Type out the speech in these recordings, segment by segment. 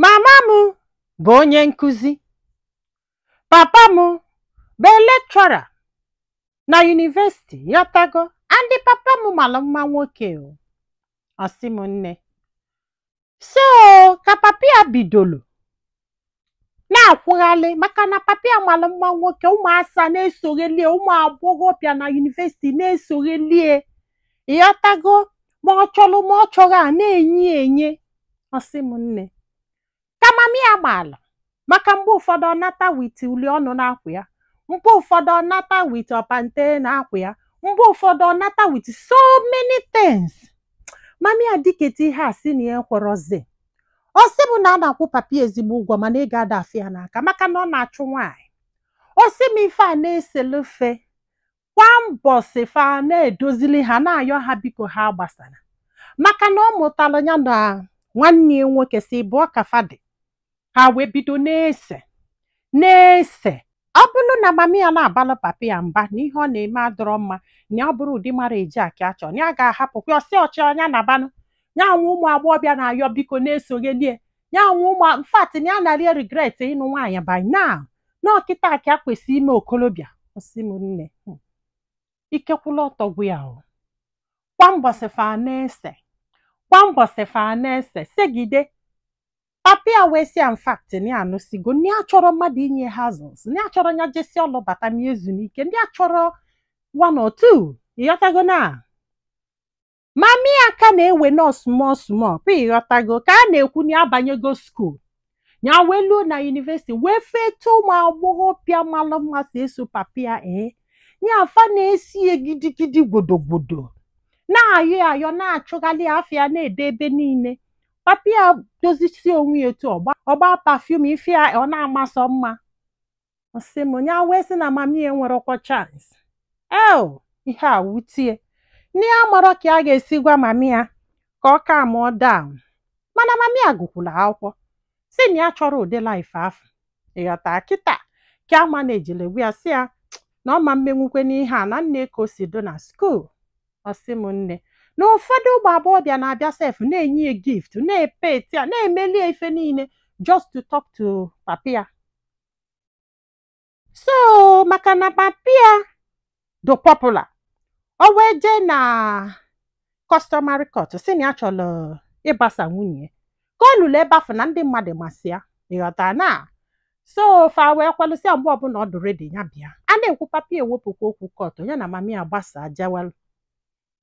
Mama m bụ onye nkụzi. Papa m bụ lecturer na yunivesiti ịghọtago and papa m malụ mma nwoke o. Ọ sị m nne. So ka papa ya bidolu na-akwụghalị maka na papa ya malụ mma nwoke ụmụ asa na-esoghelie ụmụ agbọghọbịa na yunivesiti na-esoghelie ịghọtago ma ọ chọrọ ma ọ chọrọ a na-enye ya enye ọ sị m nne ka mami ya gbaa ala maka mgbe ụfọdụ ọ nata with uli ọnụ n'akwa ya mgbe ụfọdụ ọ nata with pant n'akwa ya mgbe ụfọdụ ọ nata with so many things mami ya diketa ihe a sị na ya ekwerọzi ọ sị m na a na-akwụ papi ya ezigbo ụgwọ mana ego ada afọ ya n'aka maka na ọ na-achụ nwaanyị ọ sị m ife a na-eselu fa kwa mbọsị fa na-edozili ha na-ayọ ha biko ha agbasala maka na ọ mụtalụ ya na nwanne ya nwoke sọ ịbụọ ka fa dị ha wee bido na-ese na-ese ọ bụrụ na mama ya na-abalụ papa ya mba na ihe ọ na-eme adọrọ mma na ọ bụrọ ụdị marriage a ka ya chọ na ya ga-ahapụkwa ọ sị ọ chọọ ya nabanụ ya nwe ụmụ agbọghọbịa na-ayọ biko na-esoghelie ya nwe ụmụ infact na ya na-eregret ịnụ nwaanyị by now na ọ kịta ka ya kwesị ime okolobịa ọ sị m nne hmm. ike kwụlụ ọtọ gwụ ya o kwa mbọsị fa na-ese kwa mbọsị fa na-ese segide papi ya wee sị infact na ya anụsigo na ya achọrọ mmadụ inye ya hassles na ya chọrọ ya jesịa ọlụ bata na-ezu ike na ya achọrọ one or two ịghọtago na mami ya ka na-ewe na ọ small small play ịghọtago ka a na-ekwu na ya banyego skuul ya wee luo na yunivesiti wee fụ etu ụmụ agbọghọbịa malụ mma si eso papa ya ee ya fa na-eso ya gidigidi gwodogwodo na-ayọ ya ayọ na-achụghalị ya afa ya na-ede ebe niile papa ya dozisie onwe ya etu ọ gbaa ọ gbaa perfume ife a ọ na-ama sọ mma ọ sị m ya wee sị na mami ya enwerọkwa chance o ihe a wute ya na ya amarọ ka ya ga-esi gwa mami ya ka ọ calm down mana mami ya gụkwalụ akwụkwọ sị na ya achọrọ ụdị life afụ ịghọta kịta kama na ya jelu gwa ya sị ya na ọ ma menwukwa ihe a na nee ka o si dụ na skuul ọ sị m nne na ụfọdụ ụmụ agbọghọbịa na-abịa sef na-enye ya gift na-epeti ya na-emeli ya ife niile just to talk to papa ya so maka na papi ya dụ popular o wee jee na customary court sị na ya chọrọ ịgbasa nwunye ya ka o lulu ebe afụ na ndị mmadụ masị ya ịghọta na so fa wee kwelusịa ya mgbe ọbụla ọ dụ ready ya bịa a na-ekwu papi ya ewepụkwa okwu court ya na mami ya gbasa jewelụ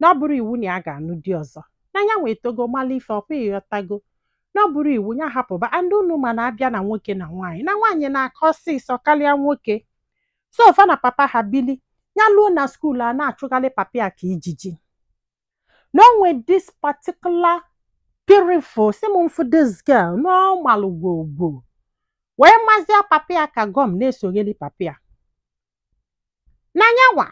na ọ bụrọ iwu na ya ga-anụ di ọzọ na ya nwa etogo mala ife ọ kwa ị ghọtago na ọ bụrọ iwu ya hapụba and unu ma na a bịa na nwoke na nwaanyị na nwaanyị na-aka ọsịsọ karịa nwoke so fa na papa ha bili ya luo na skuul a na-achụgharị papa ya ka ijiji na o nwe this particular beautiful si m mfu this girl na ọ malụ gwogwo wee mazia papa ya ka gọm na-esogheri papa ya na nya nwa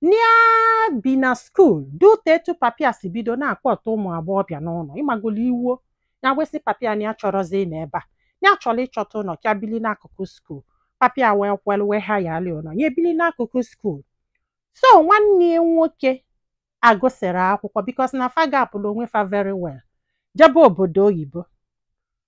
na-ebi na skuul due to etu papa ya si bido na-akpọta ụmụ agbọghọbịa n'ụlọ ị magolo iwuo ya wee sị papa ya na ya achọrọzi ịnọ ebe a ya chọrọ ịchọta ụlọ ka ya bili n'akụkụ skuul papa ya wee kwelu wee hayaalị ụlọ ya ebili n'akụkụ skuul so nwanne ya nwoke agụsịrị akwụkwọ because na fa gapụrụ onwe fa very well jebe obodo oyibo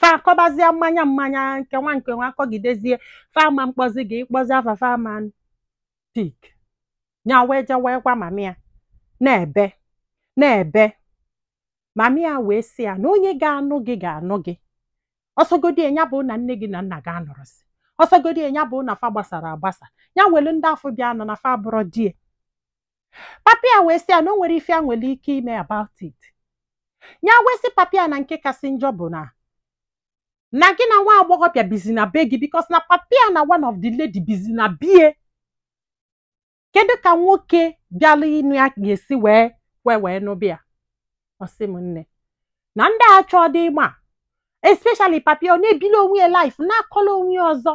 fa akọbazie mmanya mmanya nke nwa nke nwa akọgidezie fa ama mkpọzi gị ị kpọzia fa fa ama pick nya wee je wee gwa mama ya na-ebe na-ebe mama ya wee sị ya na onye ga-anụ gị ga-anụ gị ọ sọgodi ya bụ na nne gị na nna gị anọrọzi ọ sọgodi ya bụ na fa gbasara agbasa ya nwelu ndị afụ bịa nọ na fa bụrụ die papa ya wee sị ya na o nwerọ ife ya nwere ike ime about it ya wee sị papa ya na nke kasị njọ bụ na na gị na nwa agbọghọbịa bizi na be gị because na papa ya na one of the lady bizi na be ya kedu ka nwoke bịala ịnụ ya ga-esi wee wee wee nụba ya ọ sị m nne na ndị a achọọdị ịma especially papa ya ọ na-ebili onwe ya life na-akọla onwe ya ọzọ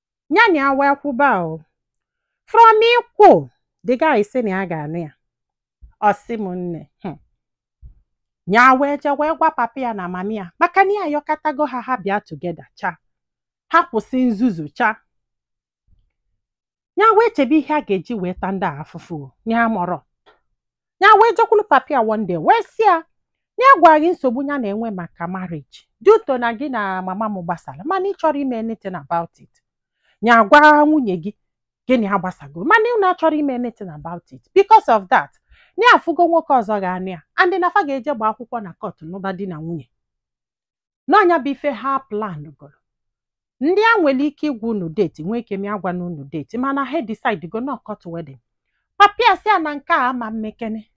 ya na ya wee kwuba o from ikwu the guy sị na ya ga-anụ ya ọ sị m nne hmm. ya wee je wee gwa papa ya na mama ya maka na ya yọkatago ha ha bịa together cha ha kwụsị nzuzu cha ya wee chebe ihe a ga-eji wee ta ndị a afụfụ o, ya mọrọ ya wee jekwulu papa ya one day wee sị ya na ya agwa gị nsogbu ya na-enwe maka marriage due to na gị na mama m gbasara mana ị chọrọ ime anything about it ya agwa nwunye gị gị na ya gbasago mana unu achọrọ ime anything about it because of that na ya afụgo nwoke ọzọ ga-anụ ya and na fa ga-eje gba akwụkwọ na court nụba di na nwunye na nya bụ ife ha plan goro and ya nwere ike ịgwa unu date nwee ike me agwana unu date mana ha decide go na ọ court wedding papa ya sị ya na nke a ama mmekene